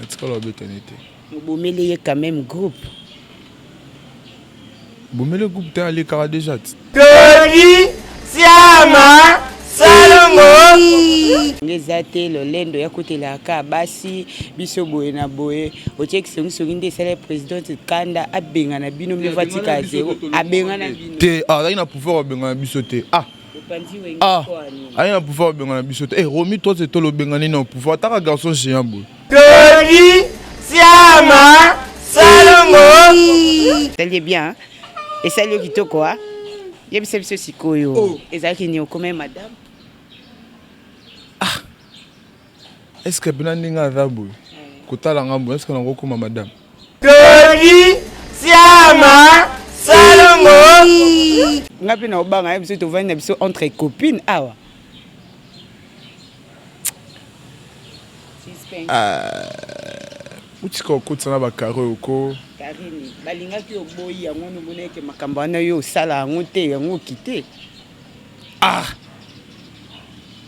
natikala obetana ye te obomeli ye quand même groupe bomeli groupe te alekaka deja ti todi siama salongo nge eza te lolendo ya kotelaka basi biso boye na boye otie kisongisongi nde esala presidente kanda abengana bino mio vatika zero abengana bino te azalaki na pouvoir abengana biso te ah Ah, aye na pouvoir obenga na biso te. Eh, Romi toi c'est toi l'obengani na pouvoir. Taka garçon géant boy. Tony Siama Salongo. T'es bien. Et ça le kitoko hein. Yebisa biso sikoyo. Oh. Ezalaki ni okome madame. Est ce que pena ndenge aza boye kotala nga boye est ce que nako koma madame Dodi Siama Salongo Nga pe na obanga ye biso tovandi na biso entre copine awa euh, utika okotisa na bakare oko karini balingaki oboyi yango wana omona ete makambo wana yo osala yango te yango okite ah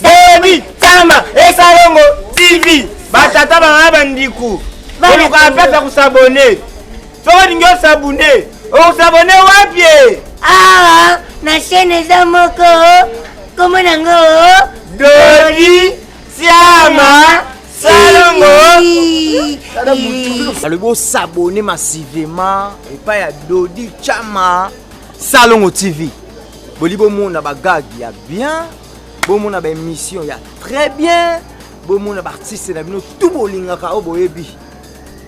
Boni, Tamba, Esalongo, TV, batata bana bandiku, oluka apesa kusabone. Soko olingi osabune, okusabone wapi? Awa na chaîne eza moko kombo nango Dodi Siama Salongo. Alobi osabone massivement epai ya Dodi Chama Salongo TV. Boli bomona bagagi ya bien bomona ba émission ya très bien bomona ba artiste na bino tout bolingaka oyo boyebi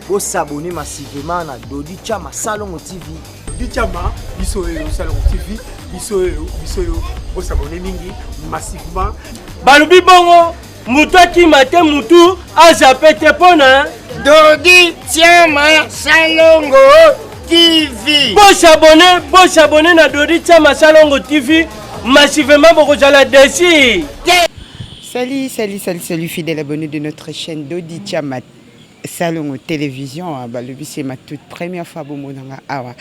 bosabone massivement na dodi chama salongo tv dodi chama biso oyo salongo tv biso oyo biso oyo bosabone mingi massivement balobi bongo moto akima te motu azape te mpona dodi tiama salongo tv bosabone bosabone na dodi tiama salongo tv massivement bokozala desi salut salut salut salut fidèle abonné de notre chaîne dodi tiama Salongo television ah, balobi c'est ma toute première fois bomonanga awa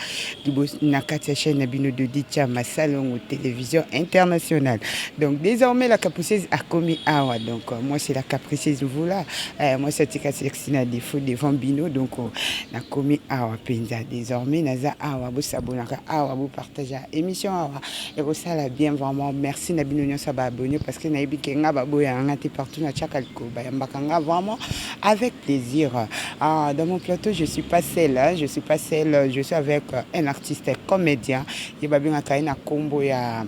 liboso na kati ya chaîne na bino Dodi Chama Salongo television internationale donc désormais la capriceuse akomi awa donc euh, moi c'est la capriceuse mvula euh, moi satika sexy na défaut devant bino donc euh, nakomi awa mpenza désormais naza awa bosabonaka awa bopartagea émission awa ekosala bien vraiment merci na bino nyonso baabonne parce que nayebi ke nga baboyaka nga te partout na tiaka likoba yambaka nga vraiment Avec plaisir. Ah, dans mon plateau, je suis pas seule. Hein. Je suis pas seule. Je suis avec euh, un artiste comédien. Il va bien un combo ya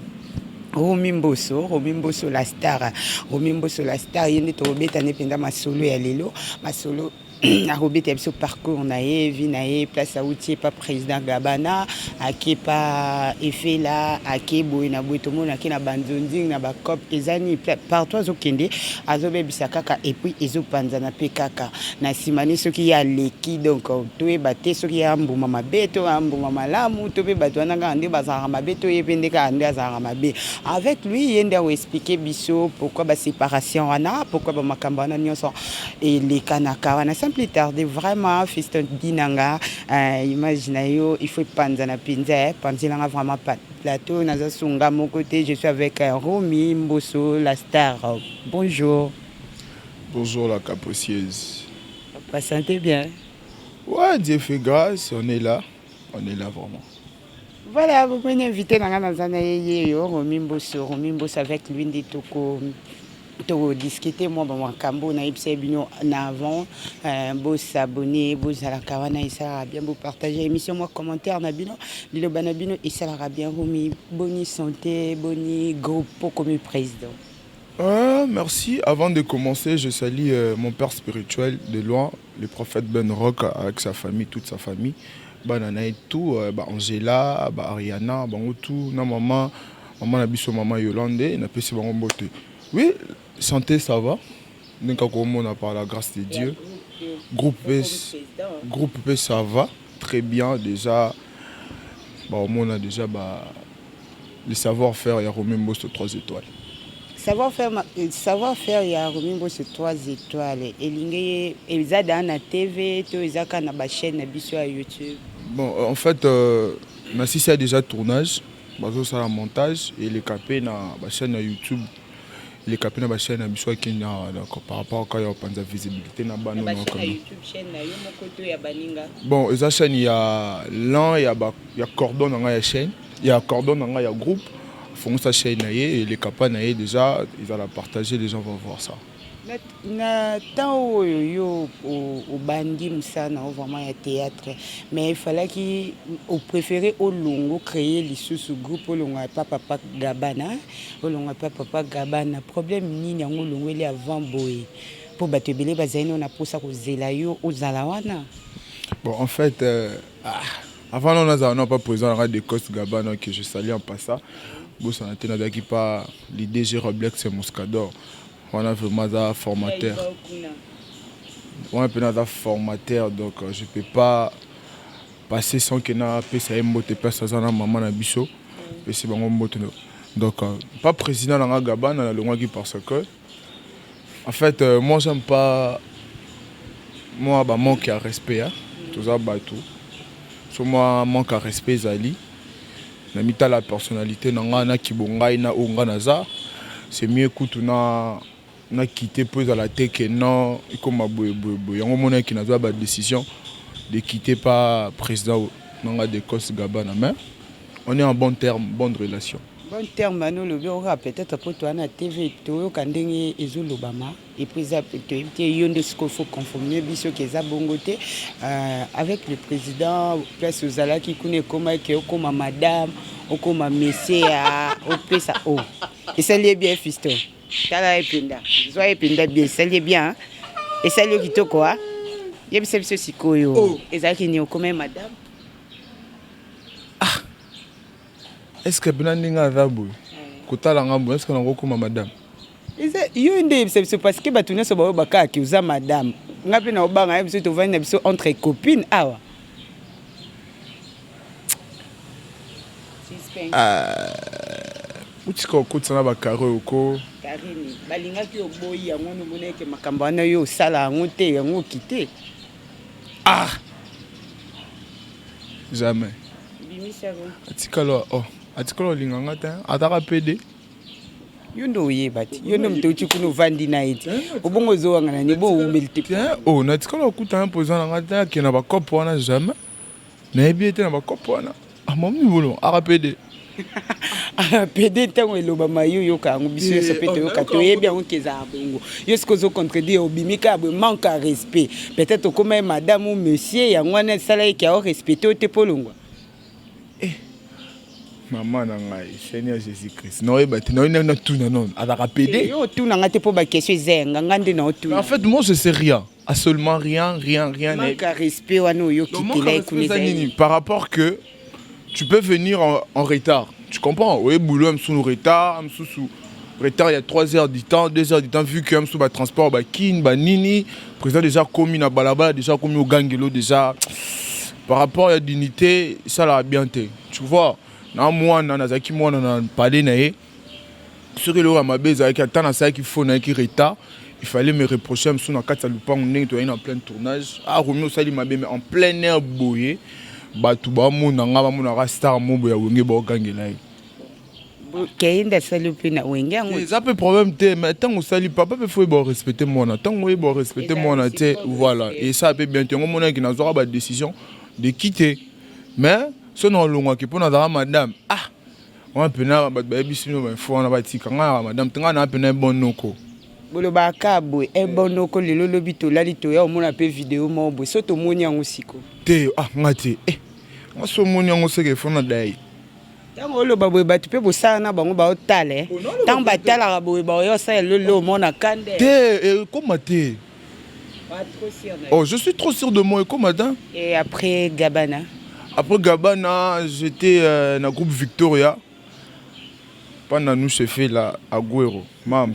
Romi Mboso, Romi Mboso la star. Romi Mboso la star. Il est au bête, il est ma solo et à l'élo. Ma solo. akobeta biso parcours na ye vie na ye place auti epa President Gabana ake pa efela ake boye na boye tomona ake na banzonzing na bacop eza nini partout azokende azobebisa kaka epuis ezopanzana mpe kaka na nsima ne soki ye aleki donc toyeba te soki ye ambuma mabe to ambuma malamu to mpe bato wana kaka nde bazalaka mabe to ye mpe nde kaka nde azalaka mabe avec lui ye nde akoexplike biso pourquoi baséparation wana pourquoi bamakambo wana nyonso elekanaka wana sans plus tarde vraiment fiston dinanga Eh, image na yo il faut epanzana mpenza eh, panzelanga vraiment plateau naza sunga moko te je suis avec eh, romi mboso la star bonjour bonjour la capricieuse vous sentez bien ouais dieu fait grâce on est là on est là vraiment Voilà, vous pouvez inviter Nanga Nazana Yeyo, Romi Mbosso, Romi Mbosso avec lui, dit tout todiscute mwa bamakambo nayebisa ye bino na avant euh, bosabone bozalaka wana esalaka bien bopartage émission mwa commentaire na bino liloba na bino esalaka bien romi boni santé boni groupe okomi président Euh, merci. Avant de commencer, je salue euh, mon père spirituel de loin, Le prophète Ben Rock avec sa famille toute sa famille bana na ye tout ba Angela ba Ariana bango tout na maman maman na biso maman Yolande na pesi bango mbote oui santé ça va ndenge kaka omona par la grâce de Dieu groupe groupe pe ça va très bien déjà ba omona déjà ba le savoir faire ya Romain Mboso 3 étoiles. Savoir faire, euh, savoir faire ya Romain Mboso 3 étoiles elingi ye eza da na TV to eza ka na ba chaîne na biso ya YouTube. Bon euh, en fait euh, na sisi a déjà tournage bazo sala montage et le capé na ba chaîne ya YouTube. leka pe na ba chaine na biso ya kenya awa donc par rapport kaka ya kopanza visibilité na bana na oyo bachaine ya kaka. youtube chaîne na yo moko to ya baninga bon eza chaîne ya lan ya, ba, ya cordon na ngai ya chaîne ya cordon na ngai ya groupe afongisa chaîne na ye eleka pa na ye déjà ezala partage les gens vont voir ça na temps oyo yo obandi mosala na yo vraiment ya théâtre mais efalaki opréféré olongo créer lisusu groupe olongo ya pa papa gabana olongo ya pa papa gabana problème nini yango olongweli avant boye mpo bato ebele bazali nao na mposa kozela yo ozala wana bon en fait euh, ah, avant non nazala nao pa président nanga de coste gabana que je salie en passa bosana te nazalaki pa lidg roblex muscador Wana vraiment aza formateur. Wana pena aza formateur donc euh, je peux pas passer sans que na pesa ye mbote place aza na maman na biso. Pesi bango mbote. Donc euh, pas président na nga Gabana na longwaki parce que en fait euh, moi j'aime pas moi ba manque ya respect hein. Toza bato. So moi manque ya respect ezali. na mitala personnalite na nga na kibo ngai na oyo nga naza c'est mieux kutu na na quitter mpo ezala te que non ekoma boye boye boye yango omonaki nazwa ba décision de quitter pas président na nga de Coste Gabana mais on est en bon terme bonne relation bon terme wana olobi oyoka peut-être mpo toa na TV toyoka ndenge ezolobama Et puis eza toyebi te yo nde sikoyo faut confirmer biso ke eza bongo te euh, avec le président place ozalaki kuna ekomaki ke okoma madame okoma monsieur ya opesa o oh. esali ye bien fisto tala ye mpenza zwa ye mpenza bien esali ye bien esali yo kitoko a yebisa biso sikoyo oh. ezalaki nini okoma madame ah. est ce que bina ndenge aza boye kotala nga boye est ce que nakokoma madame Eza yo nde yebisa biso parce que batu nionso baoyo bakaka ki oza madame. Nga pe na obanga ya biso tovandi na biso entre copine awa. Uh, utika okotisa na bakare oyo ko karini balingaki oboyi yango nomona eke makambo wana yo osala yango te yango okite ah jamais atikala oh atikala olinga nga te ataka pede yo nde oyeba te yo nde moto outi kuna ovandi na ye te obongo ozowangana ne bo oumeli te o natikala okutana mpo eza na ngai te ake na bakope wana jamais nayebi ye te na bakope wana amomi bolo arapede pede ntango elobama yo oyoka yango biso nyonso mpe toyoka toyebi yango ke ezala bongo yo soki ozo contredire obimi kaka boye manque ya respect peut-être okoma ye madame ou monsieur yango wana esala ye ke ao respecte yo te mpo olongwa eh maman na ngai seigneur jésus christ naoyeba te naoyi na tuna nono azalaka eh, pede yo otuna ngai te mpo bakestion eza yanga ngai nde naotuna en fait moi je sais rien à seulement rien rien rien manque à respect wana oyokitela ekuna eza nini par rapport que tu peux venir en, en retard Tu comprends? Oye boulot ya misusu retard, misusu retard ya 3 heures du temps, 2 heures du temps vu que ya misusu ba transport ba kin ba nini, président deja akomi na balabala deja akomi ogangelo deja par rapport ya dignité esalaka bien te. Tu vois? Na mwana nazalaki mwana na palais na ye soki eloko ya mabe ezalaki ata nasalaki fo nayaki retard il fallait me reprocher mosusu na kati ya lupango ndenge toyaki na plein tournage ah romi osali mabe mais en plein air boye bato bamona ngai bamonaka star mobo ya wenge baogangela ye keyinde asali mpe na wenge yango eza mpe problème te mais ntango osali papa mpe fo oyeba orespecte mwana ntango oyeba orespecte mwana te voilà esala mpe bien te yango omonaki nazwaka badécision de kite mais so na olongwaki mpo nazalaka madame ah Wana pena bato bayebisi bino bainfo wana batika ngai na madame te ngai naa pena ebon noko bolobaka boye ebon noko lelo lobi tolali toya omona mpe video moko boye so tomoni yango siko te ah ngai te eh ngai so omoni yango seke efo na dai ntango oloba boye bato mpe bosala na bango baotala ntango batalaka boye baoya osala lelo omona kande te ekoma te Oh, je suis trop sûr de moi, comme madame. Et après Gabana Après Gabana, j'étais euh, dans le groupe Victoria. Pendant nous, je fais là, Agüero, Mams.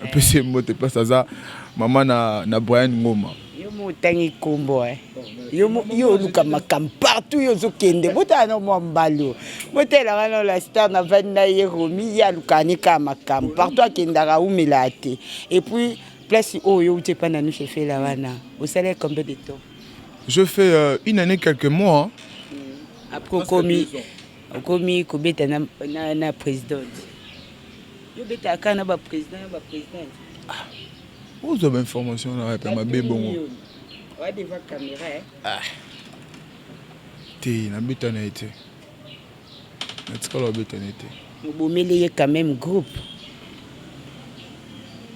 Un peu c'est moi, t'es pas ça, maman na, na Brian Ngoma. Yo mo tangi kombo eh. Yo mo yo luka makam partout yo zo kende. Bota na mo mbalo. Bota la kana la star na vanda ye romi ya luka ni ka makam. Partout akendaka umela te. Et puis Place oyo yo uti epai na Nusha Efela wana osalaki combien de temps? Je fais euh, une année quelques mois. Mm. Après okomi okomi kobeta na, na, na présidente. Yo betaka kaka na ba président na ba présidente. Ah. Ozwa ba information na wapi mabe bongo? Wa devant caméra. Eh? Ah. Te nabeta na ye te. natikala obetana ete mobomeli ye quand même groupe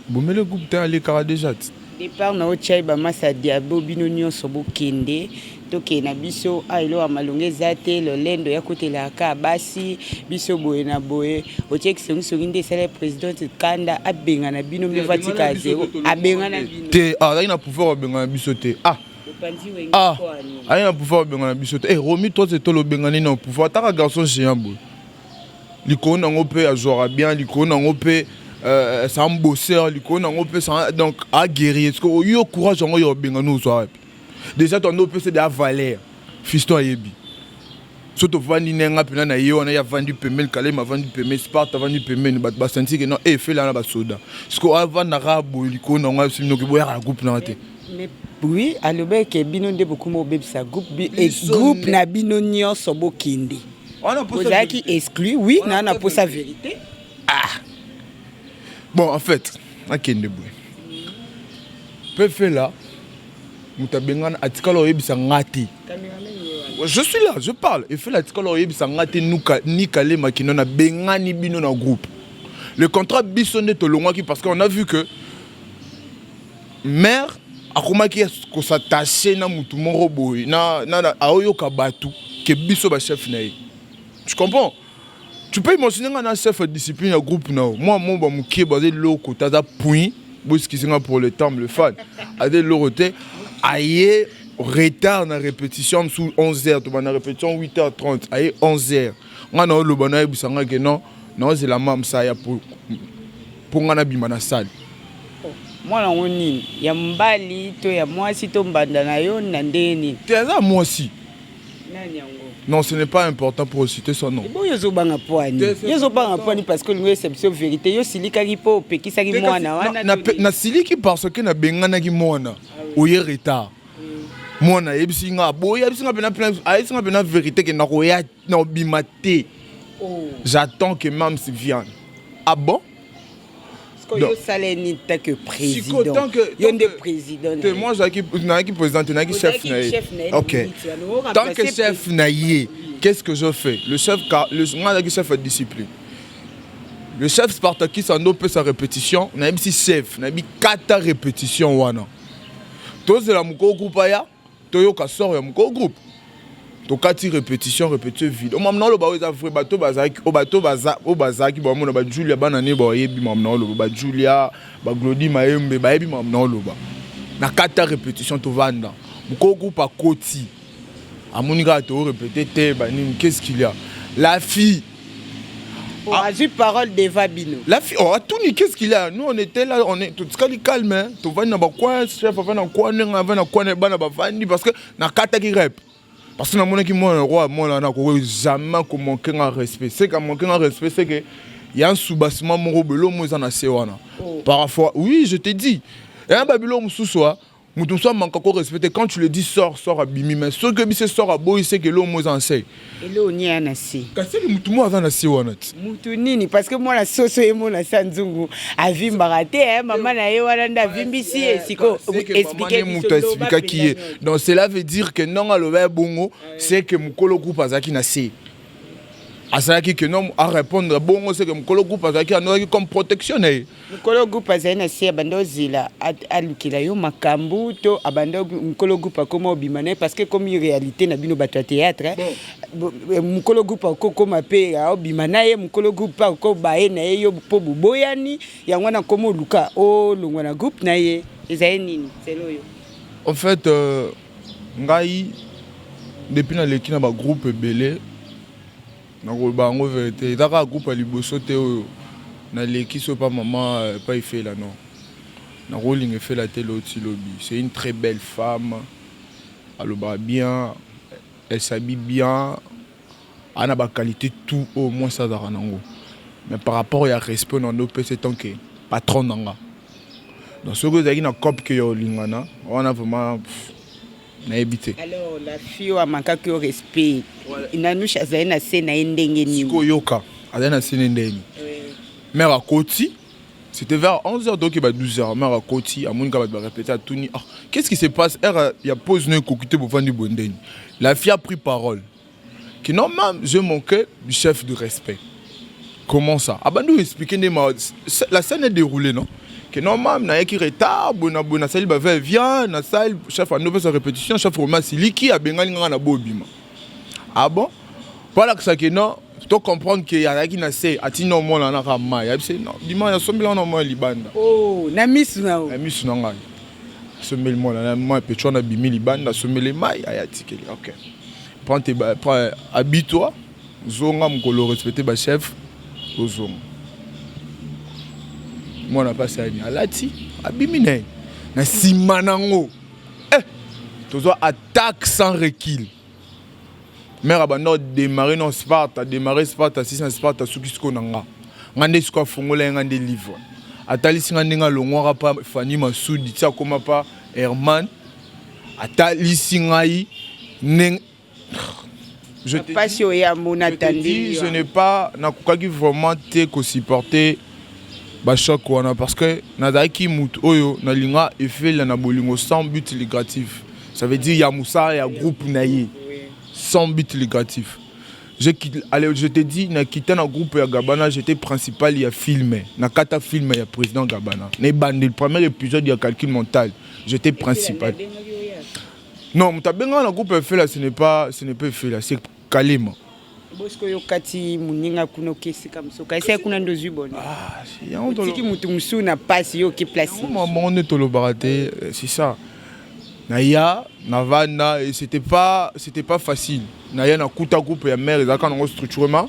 bomele groupe te alekaka deja ti départ na yo chai bamasa diabo bino nyonso bokende tokende na biso a elo ya malonga eza te lolendo ya kotelaka kaka basi biso boye na boye otie kisongisongi nde esala president kanda abengana bino mpe vatika zero abengana bino te azalaki na pouvoir abengana biso te ah ah aye na pouvoir obengana biso te eh, romi toi te tolo obengani na pouvoir ataka garçon géant boye likolo nango mpe azwaka bien likolo nango mpe euh, sa mbosseur likolo nango mpe sa donc aguerri ce que oyo courage yango ya obengani ozwa wapi déjà tondo opesa de avaler fiston ayebi so tovandi nde nga mpena na ye wana ye avandi pembeni kalema avandi pembeni sparte avandi pembeni bato basantike no efela eh, na basoda sikoyo avandaka boye likolo nango asiminoki boyaka na groupe nanga te Mais oui, alobaki ke bino nde bokuma obebisa groupe bi- eh, Biso groupe nde. na bino nyonso bokende. Wana posa Bozalaki verite. exclu, oui, Wana na na posa posa verite. bon en fait akende boye mpe fela moto abengana atikala oyebisa nga te je suis là je parle efela atikala oyebisa nga te nuka- nikale makino na bengani bino na groupe le contrat biso nde tolongwaki parce que on a vu que Mère akomaki kosatache na mutu moko boye na, na, na aoyoka batu ke biso ba chef na ye tu comprends tu peux imaginer nga na chef ya discipline ya groupe na yo mwa moba mokie baza eloko te aza puin boeskize nga pour le temps le fan aza eloko te aye retard na répétition mosusu 11 heures tobanda répétition 8 heures 30 aye 11 heures nga na oloba nayebisa nga ke non naozela mamsa ya po Mpo nga na bima na salle. Mwana yango nini? Ya mobali to ya mwasi to mbanda na yo na ndenge nini? Te aza mwasi. Nani yango? Non, ce n'est pas important pour citer son nom. Bon, yozo banga poani. Yozo banga poani parce que lingo c'est biso vérité. Yo silika ki po pekisa ki mwana wana. Na na siliki parce que na bengana ki mwana. Ah Oye retard. Mwana yebisi nga boya bisinga pena pena ayisi nga pena vérité ke na koya na obima te oh. j'attends que mams viande ah bon yo osala ye nini tant que président yo nde président te moi azalaki nayaki président te nayaki chef na ye ok tant que chef na ye qu'est-ce que je fais le chef nga azalaki chef ya discipline le chef spartakis ando opesa répétition nayebisi chef nayebi kata répétition wana tozela mokolo kupa ya toyoka sort ya moko groupe tokati repetition repetition vide omamna oloba oyo eza vrai bato bazalaki oyo bato oyo bazalaki bamona bajulia bana ne bayebi mamna oloba bajulia baglodi mayembe bayebi mamna oloba na kati ya repetition tovanda moko groupe akoti amoni kaka toorepete te banini qu'est ce qu'il ya la fille Oh, ah. azwi parole deva bino lafi oh, atuni qu'est-ce qu'il a nous on était là on est totikali calme hein. tovandi na bakwa chef avandi na kwa ndenge avandi na kwa na bana bavandi parce que nakataki rep parce que namonaki mwana roi mwana wana akoki jamais komanke nga respect se ka manke nga respect se ke ya nsubassement moko belomo eza na se wana oh. parfois oui je te dis eya babilo mosusu a moto mosusu amanka ko respecte quand tu le dis sort sort abimi mais soki oyebi se sort aboyi seke eloo mo eza na se eloo nie ya na se kasi eke moto mo aza na se wana ti moto nini parce que mwana soso ye mona sa nzungu avimbaka te eh, mama na ye wana nde avimbisi ye eh, siko explike moto aexplikaki ye donc cela veut dire que ndongo aloba ye bongo seke mokolo groupe azalaki na se asalaki que non arépondre bongo seke mokolo groupe azalaki anozaki comme protection na ye Mokolo groupe azali na se abanda ozela alukela yo makambo to abanda mokolo groupe akoma obima na ye parce que ekomi réalité na bino bato ya théâtre eh, mokolo groupe akokoma mpe aobima na ye mokolo groupe mpe akoba ye na ye yo mpo boboyani yango wana akoma oluka olongwa na groupe na ye ezali nini selo oyo en fait euh, ngai depuis naleki na bagroupe ebele Nakoloba yango verite eza kaka groupe ya liboso te oyo naleki soki epa mama epa efela non nakolinga efela te lelo ti lobi c'est une très belle femme alobaka bien elle s'habille bien a na ba qualite tout oyo mwasi azalaka nango mais par rapport ya respect na ndo pese tant que patron nanga donc soki ezalaki na cop que ya olingana wana vraiment nayebi te alors la fille oyo amakaki yo respect nanusha azali na se na ye ndenge nini koyoka azali na se na ye ndenge nini mère akoti c'était vers 11h donc il va 12h mère akoti amoni ka bato barépété atuni ah qu'est-ce qui se passe heure ya pose no ekoki te bovandi boye ndeni la fille a pris parole que normal je manquais du chef du respect comment ça abandi ah oexplike nde la scène est déroulée non que normal nayaki retard boye na boye nasali bave via nasali chef andi opesa répétition chef roma asiliki abengani nganga na bobima ah bon mpo alakisa ke non to comprendre ke azalaki na se atindi na omona na kaka mai ayebi se non bima nasombeli wana omoi libanda oh, na misu na na misu na ngai asombeli mwana na mai pecho wana abimi libanda asombeli mai ayatikeli okay Prends tes ba, prends, habille-toi, zonga mukolo respecter ba chef, ozonga. Mwana pasi ani alati abimi na ye na nsima nango eh, tozwa attaque sans recul. Mère abanda odemare na Sparte, ademare Sparte, asisi na Sparte, asuki siko na nga. Nga nde siko afongola ye nga nde livre. Atalisi nga ndenge alongwaka pa Fanny Masudi, ti akoma pa Herman. atalisi ngai ndenge je te pasi dis, oya mona je te tandi dis, je liwa. n'ai pas nakokaki vraiment te ko supporter ba choc wana parce que nazalaki moto oyo nalinga efelia na bolingo sans but lucratif ça veut dire ya mosala ya groupe na ye Oui. sans but lucratif. Je, quitte- allez, je te dis, na kita na groupe ya Gabana, j'étais principal ya film. Na kata film ya président Gabana. Na ebandeli premier épisode ya calcul mental. j'étais principal non moto abenga na groupe efela ce n'est pas ce n'est pas efela c'est kalema bosiko yo kati moninga kuna oke esika mosusu okaisa kuna nde ozwi bono otiki motu mosusu na mpasi yo oke place bango nde tolobaka te c'est ça naya navanda et c'était pas c'était pas facile naya nakuta groupe ya mare ezalaka nango structurement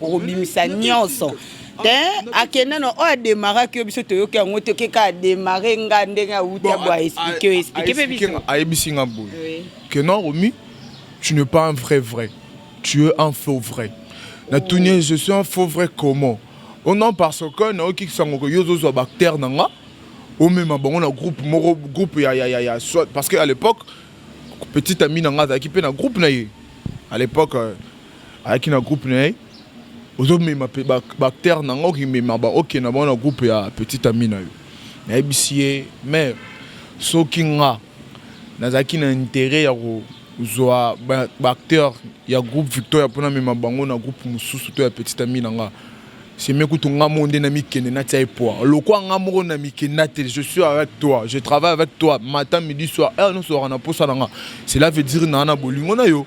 okobimisa nyonso te akenda na oyo ademaraki yo biso toyoki yango te oke kaka demare nga ndenge awuti abo aexplike yo explike mpe biso ayebisi nga boye ke non romi tu ne pas un vrai vrai tu es un faux vrai natuni oh. je suis un faux vrai comment o oh non parce que nayoki sango ke yo ozozwa bactère na nga omema bango na groupe moko groupe ya, ya, ya, ya soit parce que à l'époque petite ami na nga azalaki mpe na groupe na ye à l'époque euh, ayaki na groupe na ye ozomema mpe bacteur na yango okimema baoke na bango na groupe ya petit ami na yo nayebisi ye mare soki nga nazalaki na interet ya kozwa baacteur ya groupe victoria mpo namema bango na groupe mosusu to ya petit ami na nga seme kutu nga moko nde namikende natia ye poa lokwa nga moko na mikenda te je suis avec toi je travaille avec toi matin midi soir heure nyonso ozalaka na mposa na nga cela veut dire naa na bolingo na yo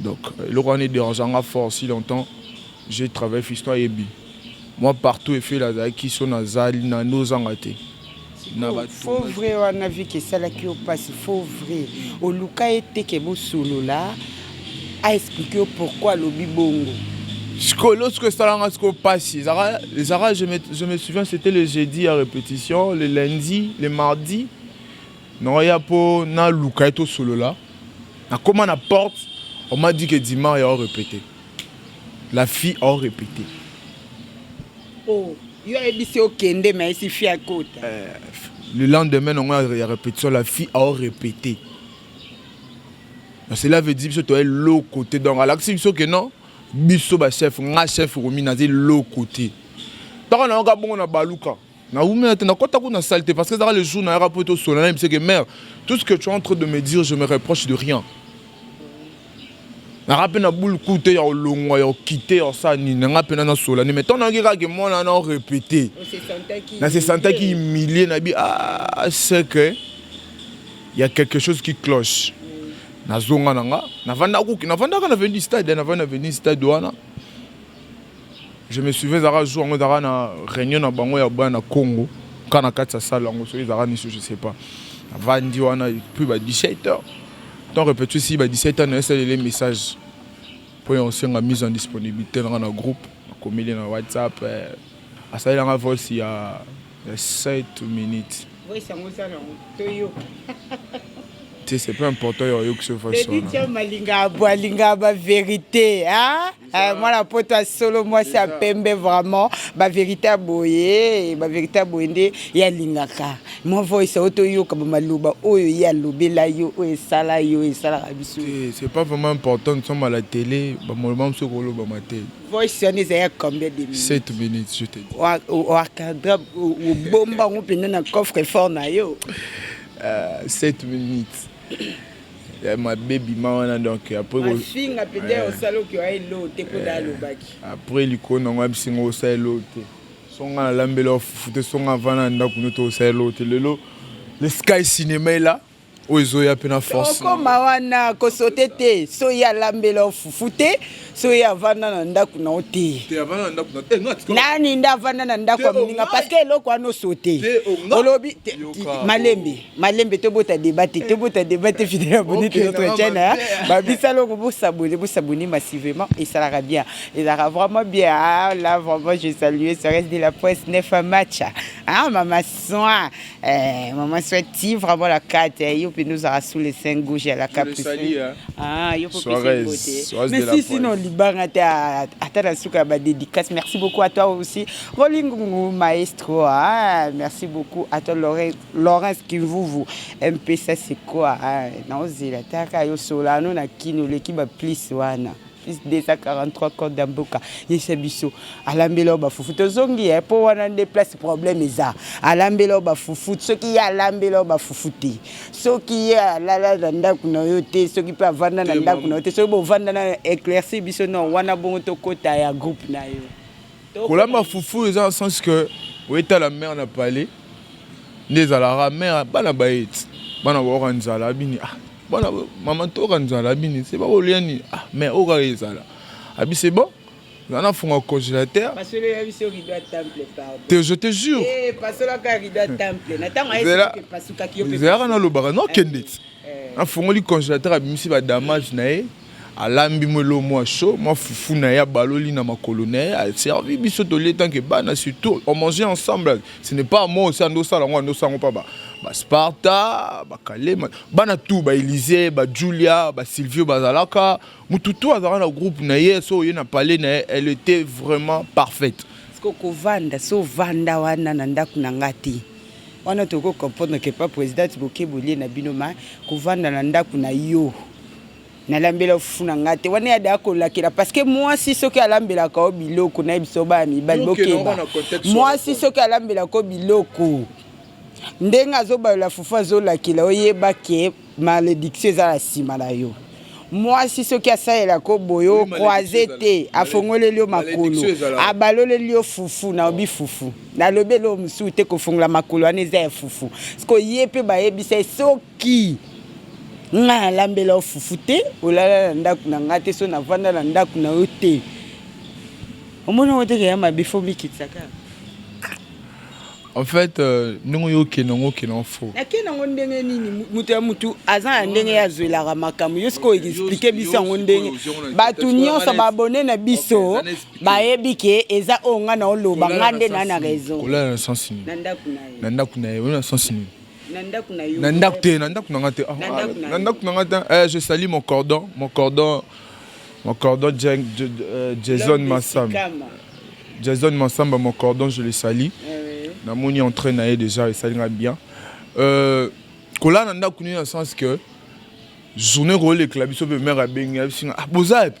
Donc eloko wana ederange nga fort si longtemps j'ai travaille fiston ayebi moi partout efele azalaki so nazali na nozanga te faux vrai wana viki esalaki yo mpasi faux vrai oluka ye te ke bosolola aexplike yo pourkui alobi bongo sikoyo lorsque esalanga sikoyo mpasi ezalaka je me souviens c'était le jeudi ya répétition le lundi le mardi Non ya po na luka to solola. Na koma na porte, on m'a dit que Dimar ya répété. La fille a répété. Oh, yo ayebisi okende mais si fille akota. Euh, le lendemain non ya répétition la fille a répété. cela veut dire biso toye lo côté donc alakisi biso ke non biso bachef nga chef romi naza eloko te ntaka nayoka bongo na baluka Na wumela te, na kota kuna salle te parce que ezaka le jour na yaka poto solo na que mère, tout ce que tu es en train de me dire, je me reproche de rien. Na rape na boule coup te ya olongwa ya okite ya sa ni na nga pena na sola ni mais tant na kaka que moi na na répéter. Na se sentais qui humilié na bi ah c'est que il y a quelque chose qui cloche. Na zonga na nga, na vanda kuki, na vanda ka na veni stade, na vanda veni stade wana. Je me souviens ezalaka jour yango ezalaka na réunion na bango ya bana Congo ka na kati ya salle yango soki ezalaka niso je sais pas avandi wana puis ba 17 heures donc repeti si ba 17 heures na esalele message mpo ya kosenga mise en disponibilité nanga na groupe akomeli na whatsapp eh, asalelanga voice ya 7 minutes voice yango eza na toyoka te c'est pas important ya oyokisa voice wana malinga abwa alinga ba verité hein? Eh, mwana poto ya solo mwasi ya pembe vraiment baverité ya boye baverité ya boye nde ye alingaka mwa voice oyo toyoka bamaloba oyo ye alobela yo oyo esala yo esalaka biso eh, c'est pas vraiment important nous sommes à la télé bamaloba mosusu kolobama te voice wana ezali ya combien de minutes 7 minutes je te dis oakadra obomba yango mpenza na coffre fort na yo 7 euh, minutes ya mabe bima wana donc après ko- mafinga pete Eh. osala oke wa elo te mpo da alobaki après likolo nango yebisi ngo osala eloko te so nga nalambela yo fufu te so nga vana na ndako no te osala eloko te lelo le sky cinema ela oyo ezoya mpe na force okoma wana kosote te so ye alambela yo fufu te so ye avanda na ndako na yo te te avana na ndako na te nga tika nani nde avanda na ndako ya Te, moninga ongai. parceke eloko wana osote Te, ongai. olobi te- Yoka. malembe malembe tobota deba te tobota deba te fidèle abonné te notre chaîne babisala oko bosabone bosabone massivement esalaka bien ezalaka vraiment bien ah, là vraiment je salue seres de la presse nef match ah mama soin eh, mama soin ti vraiment la carte eh, yo mpenza ozalaka sous le saint gauche ya la caprice ah yo kopesa mais si sinon libanga te ata na suka ya badédicace merci beaucoup à toi aussi rolingungu maestro ah merci beaucoup à toi lore Laurence Kimvuvu MPSA c'est quoi hein? Naozela taka yo Solano na Kin oleki ba plus wana plus 243 code ya mboka yesa biso alambela yo bafufu tozongi ye mpo wana nde place problème eza alambela yo bafufu soki ye alambela yo bafufu te soki ye alala na ndako na yo te soki mpe avanda na ndako na yo te soki bovanda na éclairci biso non wana bongo tokota ya groupe na yo kolamba fufu eza na sens que oyetala mare na palais nde ezalaka mare bana baye ti bana baoka nzala abini ah, bana mama toka nzala abini se bakolia nini ah, mare oyo kaka ezala abi se bon nga nafunga congélateur te je te jure eh, zelaka nalobaka nokende ti eh. nafungoli congélateur abimisi badamage na ye Alambi mwa eloko mwa chaud, mwa fufu na ye abaloli na makolo na ye, a servir biso tolie tant que bana surtout on mangeait ensemble, ce n'est pas moi osa nde osala yango, nde osala yango pa ba ba Sparta, ba Kalema, bana tout ba Elise, ba Julia, ba Silvio bazalaka, mutu tout azalaka na groupe na ye, soki oye na palais na ye, elle etait vraiment parfaite. Sikoyo kovanda se ovanda wana na ndako na nga te wana tokoki ko comprendre que pa presidente boke bolie na bino mais kovanda na ndako na yo nalambela fufu na ngai te wana ya daa kolakela parceke mwasi soki alambelaka yo biloko na ye biso baya mibali bokeba mwasi soki alambelaka yo biloko ndenge azobalola fufu azolakela oyeba ke malediction eza na nsima na yo mwasi soki asalela ko boye okroise te afongoleli yo makolo abaloleli yo fufu naobi fufu nalobi eloo mosusu te kofongola makolo wana eza ya fufu sikoye mpe bayebisa ye soki ki nga nalambela yo fufu te olala na ndako na nga te so navanda na ndako na yo te omoni yango teke ya mabe fo mikitisa kaka en fait euh, ndenge oyo okende yango okende yango fo nakende yango ndenge nini moto ya motu aza na ndenge ye azwelaka makambo yo sikoyo explike biso yango ndenge bato nyonso babone na biso bayebi ke eza oyo ngai naoloba ngai nde naa na raison na ndako na ye na ndako na ye oyo na sensi nini na ndako na yo na ndako te na ndako na nga te ah, na ndako na nga te eh, je sali mon cordon mon cordon mon cordon euh, Jason Massamba Jason Massamba mon cordon je le sali eh na moni entraîne na ye déjà esali nga bien euh, kolala na ndako nini na sens que journée kolekela biso mpe mare abengi abisinga ah, boza epe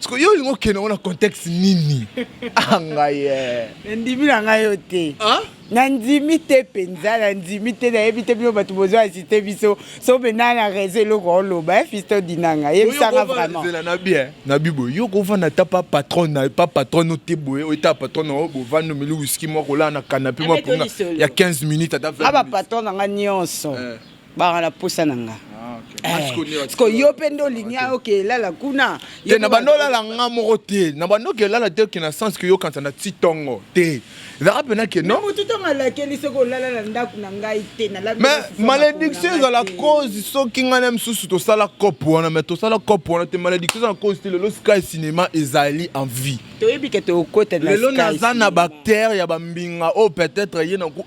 siko yo olingi okende yango na contexte nini angaye ah, eh. ndimi na ngai yo te ah? nandimi te mpenza nandimi te nayebi te bino bato bozwa asiste biso so mpenza na rezo eloko oloba eh, fisto dinanga yebisanga vraimenzela na bien na bibo yo kovanda ata pa patron na pa patron no te boye oyo ta patron na yo bovandi omeli wiski moko olaa na kanape mwa mpona ya 15 minutes ata 20 minutes aba patron na ngai nyonso eh. baka na posa na nga siko eh, yo mpe nde olingi oke elala kuna te na banda olala nga moko te na banda oke elala te oke na sens ke yokanisa na ti ntongo te ezalaka mpena ke no motu ntongo alakeli soki olala na ndako na ngai te mais malédiction ezala cause soki ngai na mosusu tosala cope wana mais tosala cope wana te malédiction ezala cause te lelo sky cinéma ezali en vie toyebi ke tokota lelo naza na bactère ya bambinga oyo oh, peut-être ye na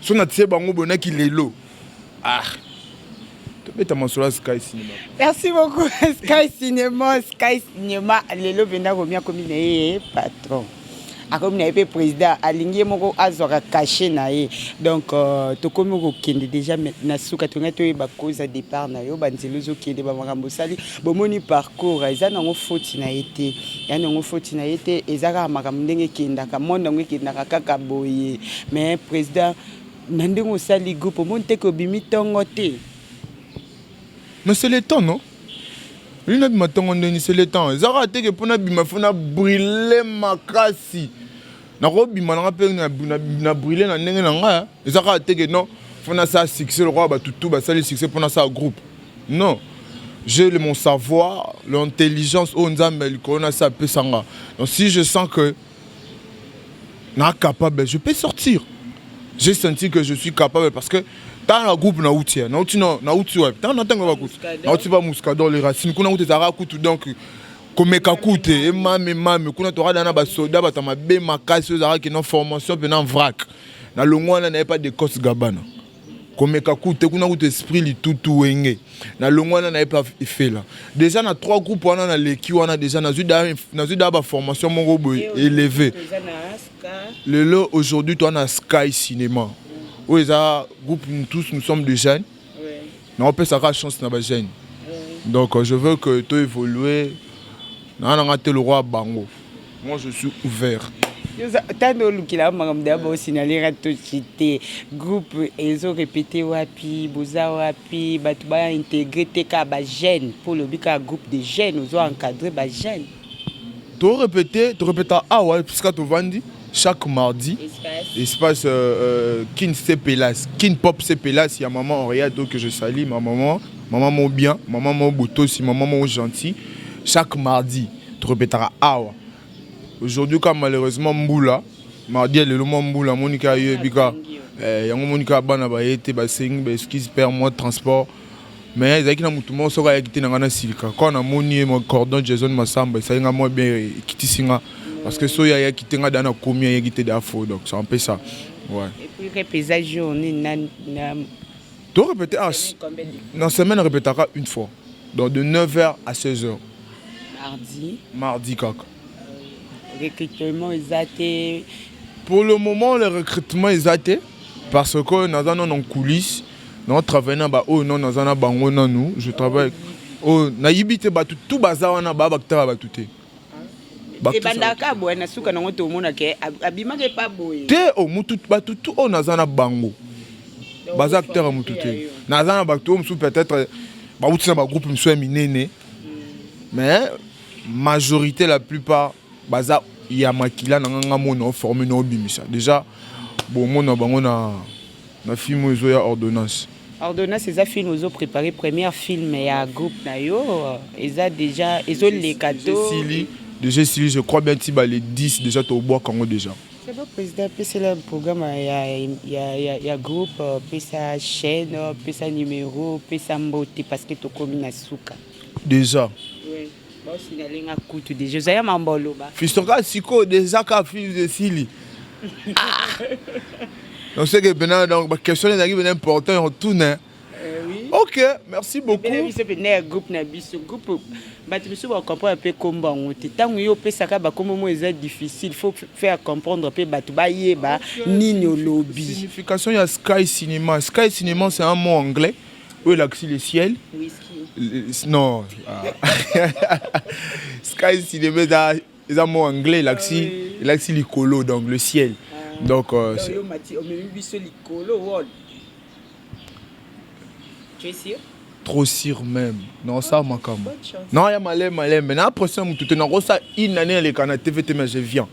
so na tie bango boye na kilelo ah tobeta masolo ya sky cinema merci beaucoup sky cinema sky cinema lelo mpenza komi akomi na ye patron akomi na ye mpe président alingi ye moko azwaka cachet na ye donc euh, tokomi kokende déjà na suka tongai toyeba koza départ na yo banzela ozokende bamakambo osali Bomoni parcours eza nango foti na ye te ya nango foti na ye te eza kaka makambo ndenge ekendaka monde yango ekendaka kaka boye mais president na ndenge osali groupe omoni te ke obimi tongo te mais c'est le temps non olingi nabima tongo ndeni c'est le temps eza kaka te ke mpo nabima fo na brille makasi nakobima nanga mpe na brille na ndenge na ngai eza kaka teke non mpo nasala succès lokola bato tu basali succès mpo nasala groupe non j'ai mon savoir l'intelligence oyo nzambe ya likolo nasi apesa nga donc si je sens que na capable je peux sortir j'ai senti que je suis capable parce que ntango na groupe nauti nauti nauti wapi ntango na ntango ya bakuti nauti ba muscador les racines kuna kutu ezalaka kutu donc komeka kute emami mami kuna tokada na basoda bato ya mabe makasi oyo ezalaki na formation mpe na vrac na longo wana naye pa decos gabana komeka kute kuna kutu esprit litutu wenge na longo wana naye pa ifela deja na trois groupe wana naleki wana deja nazwi daa baformation moko boye eleve lelo aujourd'hui toa na sky cinéma oyo eza groupe tous nous sommes de jeunes naopesa kaka chance na bajeune donc je veux que to évolue naa nanga te lokwa bango moi je suis ouvert tando olukela makambo ya bosinalera toci te groupe ezo repete wapi boza wapi bato baintegre te kaka bajeune mpo olobi kaka groupe de jeune ozo encadre bajeune To repete, to repeta awa esika tovandi chaque mardi espace, espace euh, euh, Kin Sepelas, Kin Pop Sepelas ya maman Henriette que je salue ma maman, maman mo bien, maman mo botosi, maman mo gentil. Chaque mardi, to repetaka awa. Aujourd'hui ka malheureusement mbula, mardi lelo mwa mbula monika yo ebika. Eh, yango monika bana baye te basengi ba excuse père moi transport mais ezalaki na motu moko soki ayaki te na ngai nasilika kaka namoni ye cordon jason masamba esali ngai mwa bien ekitisi ngai parce que soki ayaki te ngai daa nakomi ayaki te daa fo donc c'est un peu ça ouais. Et puis rep eza jour nini na, na... to répéter ah, na semaine répétaka une fois donc de 9h à 16h mardi mardi kaka Recrutement eza te. Pour le moment, le recrutement eza te parce que naza nanu en coulisse nao travaille na baoyo nao naza na bango nanu je travaille oyo nayibi te bato tu baza wana baa bakitaka bato te ebandaka boye na suka nango tomonaka abimaka epa boye te o oh, mutu bato tu oyo naza na bango baza akitaka motu te naza na bato oyo mosusu peut-être bawuti na bagroupe mosusu ya minene mais Majorite la plupart baza ya makila na nga nga mona forme na obimisa deja bo mona bango na na film oyo ezoya ordonnance Ordonnance eza film ozo prepare première film ya groupe na yo eza deja ezo leka to esili deja esili je crois bien ti ba le 10 deja tobwaka yango deja C'est bon président pesela programme ya ya ya, ya groupe pesa chaîne pesa numéro pesa mbote parce que tokomi na suka Deja. Osingalinga kutu deja oza ya mambo oloba. Fistoka sikoyo deja ka fils esili. Donc c'est que maintenant donc ba question ezalaki bien important on tourne. Hein. Ok, merci beaucoup. Bela biso pe na groupe na biso groupe bato biso ba comprendre pe kombo yango te. Tango yo pesaka ba kombo mo eza difficile, faut faire comprendre pe bato ba yeba nini olobi. Signification ya Sky Cinema. Sky Cinema c'est un mot anglais. Mm. oyo elakisi le ciel non ah. sky cinema eza eza mot anglais elakisi ah elakisi likolo donc le ciel ah. donc euh, trop sûr même non ça makambo non ya malembe malembe na pression motu te nakosala une année elekana tv te mais je viens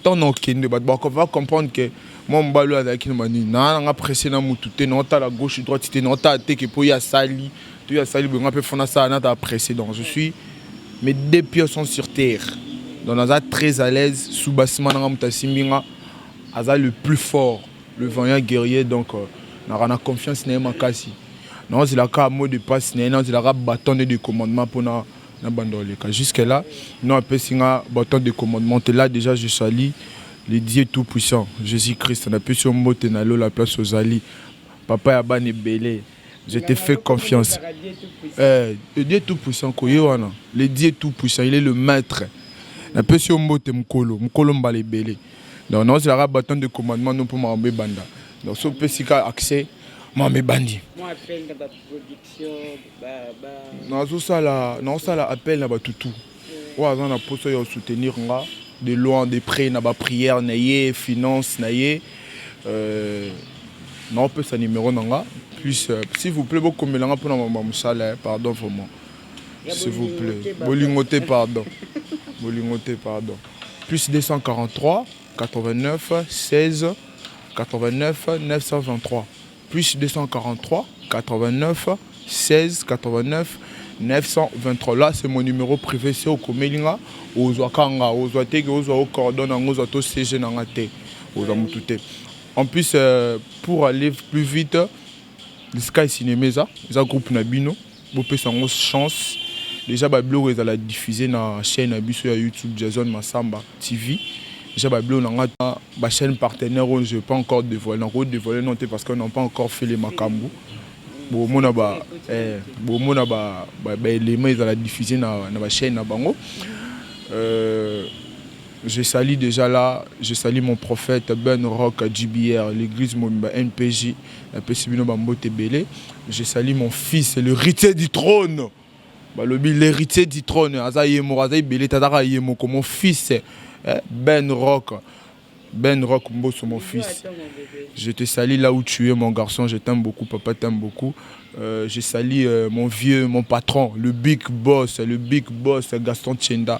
Ntango nakokende, bato bako- va comprendre que mwa mobali oyo azalaki na banini. Naa nanga presse na mutu te, naotala gauche droite te, naotala te que mpo ye asali to ye asali boye, nga mpe faut nasala nazala presse. Donc je suis mes deux pieds sont sur terre. Donc naza très à l'aise sous bas sima na nga moto asimbi nga aza le plus fort, le vaillant guerrier donc euh, naka na confiance na ye makasi. Naozela kaka mot de passe na ye, naozela kaka bâton de de commandement mpo na na banda oleka jusque là non apesi nga bâton de commandement te là déjà je salis le Dieu tout puissant Jésus Christ napesi yo mbote na lola place ozali papa ya bana ebele je te fais confiance euh, le Dieu tout puissant koye wana le Dieu tout puissant il est le maître napesi yo mbote mokolo mokolo mbala ebele donc naozelaka bâton de commandement no mpo makambo ebanda donc so opesi ka accès makambo ebandi nazosala naosala appel na bato tout oyo aza na mposa ya soutenir nga de loin de près na baprière na ye finance na ye euh, naopesa numero na nga plus euh, s'il vous plaît bokomela nga mpona mama mosala pardon vraiment s'il vous plaît bolingo te pardon bolingo te pardon plus 243 89 16 89 923 plus 243 89 16 89 923 là c'est mon numéro privé se okomeli nga ozwaka nga ozwa te ke ozwa ocordone yango ozwa to cg na nga te ozwa motu te en plus euh, pour aller plus vite sky cinéma eza eza groupe na bino Bopesa yango chance dejà ba biloko ezala diffuse na chaine ya biso ya YouTube Jason Massamba TV dejà ba biloko na nga na ba chaine partenaire oyo je pas encore devoile na ko devoile non te parce que non pas encore fait les makambu bomona ba eh, bomona ba ba, ba element ezala diffuse na na ba chaine na bango euh, Je salut dejà là je salut mon prophète Ben Rock JBR l'eglise mobimba NPJ na pesi bino ba mbote ebele je salut mon fils le ritier du trône balobi l'héritier du trône aza ye moko aza ebele te azaka ye moko mon fils eh, Ben Rock Ben Rock Mbosso mon fils je te salis là où tu es mon garçon je t'aime beaucoup papa t'aime beaucoup euh, je salis euh, mon vieux mon patron le big boss le big boss Gaston Tchenda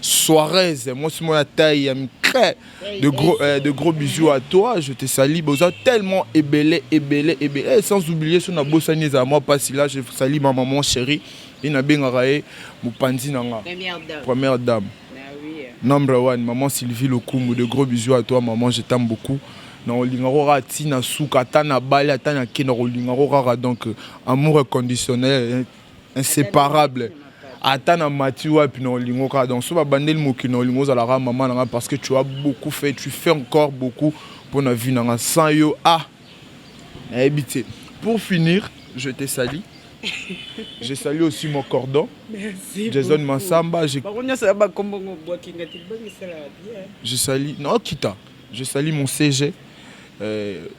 Suarez, moi c'est moi taille ya micre. De gros, euh, de gros bisous à toi, je te salue. Boza tellement ébélé, ébélé, ébélé. Eh, sans oublier son abosani za moi pas là, je salue ma maman chérie. Il na benga raé, mupanzi nanga. Première dame. Première dame. Bah oui. Number one, maman Sylvie Lokumu, de gros bisous à toi, maman, je t'aime beaucoup. na olingako kaka ntina suka ata na bali ata na kenda kolingako kaka donc amour inconditionnel inséparable ata na mati wapi na olingo kaka donc so babandeli mokili na olingo ozalaka mama na ngai parce que tu as beaucoup fait tu fais encore beaucoup mpo na vie na ngai sans yo ah nayebi te pour finir je te sali je salue aussi mon cordon Merci jason beaucoup. mansamba je, bango nyonso ya bakombo ngo bwakinga te bangisala bien je sali non kita je sali mon cg euh,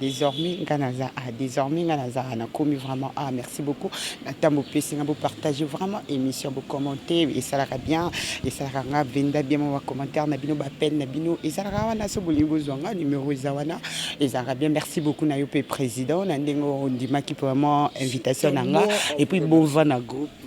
desormais nga naza a ah, desormais nga naza a ah, nakomi vraiment a ah, merci beaucoup na ntango bopesi nga bopartage vraiment émission bocommente esalaka bien esalaka nga venda bien mwa bacommentaire na bino bapene na bino ezalaka wana so bolingi bozwa nga numero eza wana ezalaka bien merci beaucoup na yo mpe président na ndenge ondimaki vraiment invitation na nga epuis bova na groupe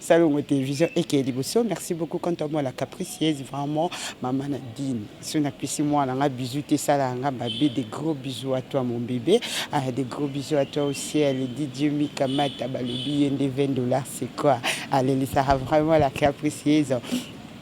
Salongo television eke liboso merci beaucoup quant à moi la capricieuse vraiment maman Nadine so na pesi mwana nga bisous te sala nga babe des gros bisous à toi mon bébé ah, des gros bisous à toi aussi elle dit Dieu Mika Mata balobi yende 20 dollars c'est quoi allez ça vraiment la capricieuse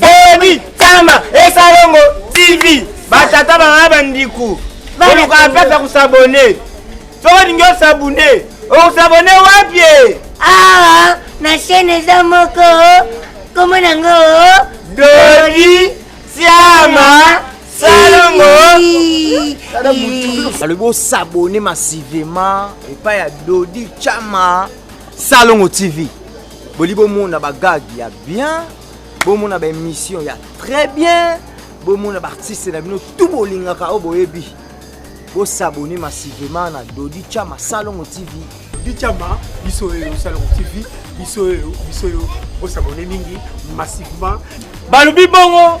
Boni Tama Esalongo TV batata bana bandiku olukaka place ya kosabone soki olingi osabune okosabone wapi awa na chaine eza moko kombo nango dodi siama salongo alobi osabone masivema epai ya dodi chama salongo tv boli bomona bagage ya bien bomona ba émission ya très bien bomona ba artiste na bino tout bolingaka oyo boyebi bosabone massivement na dodi chama salongo tv dodi chama biso oyo salongo tv biso oyo biso oyo bosabone mingi massivement balobi bongo